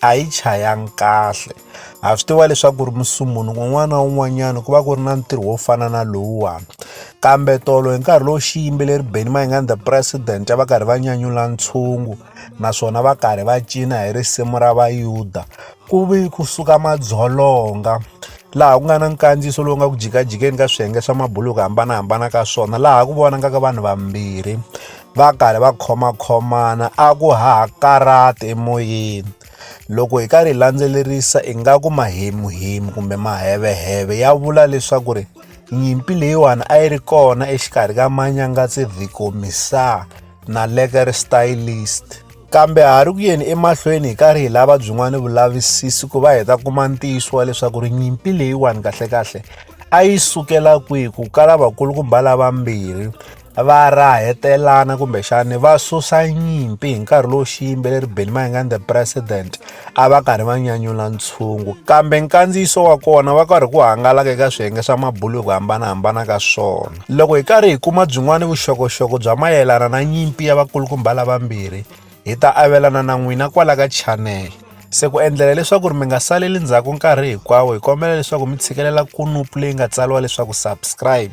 a yi chayanga kahle ha swi tiva leswaku ku ri musumbhunuku un'wana na un'wanyana ku va ku ri na ntirho wo fana na lowuwani kambe tolo hi nkarhi lowu xi yimbeleri beni mayingani the president va karhi va nyanyula ntshungu naswona va karhi va cina hi risimu ra vayuda ku vi kusuka madzolonga laha ku nga na nkandziyiso lowu nga ku jikajikeni ka swiyenge swa mabulu hi ku hambanahambana ka swona laha ku vonakaka vanhu vambirhi va karhi va khomakhomana a ku hahakarati emoyeni loko hi karhi hi landzelerisa ingaku mahemuhemu kumbe maheveheve ya vula leswaku ri nyimpi leyiwani a yi ri kona exikarhi ka manyangatsi vhikomisaa na leker stylist kambe ha ri ku yeni emahlweni hi karhi hi lava byin'wana vulavisisi ku va hi ta kuma ntiyiso wa leswaku ri nyimpi leyiwani kahlekahle a yi sukela kwihi ku kala vakulukumba lavambirhi va rahetelana kumbexani va susa nyimpi hi nkarhi lowu xiyimbeleri benny mayengani the president a va karhi va nyanyula ntshungu kambe nkandziyiso wa kona va karhi ku hangalaka eka swiyenge swa mabulo hi ku hambanahambana ka swona loko hi karhi hi kuma byin'wana vuxokoxoko bya mayelana na nyimpi ya vakulukumba lavambirhi hi ta avelana na n'wina kwala ka chanele se ku endlela leswaku ri mi nga saleli ndzhaku nkarhi hinkwawo hi kombela leswaku mi tshikelela kunupu leyi nga tsariwa leswaku subscribe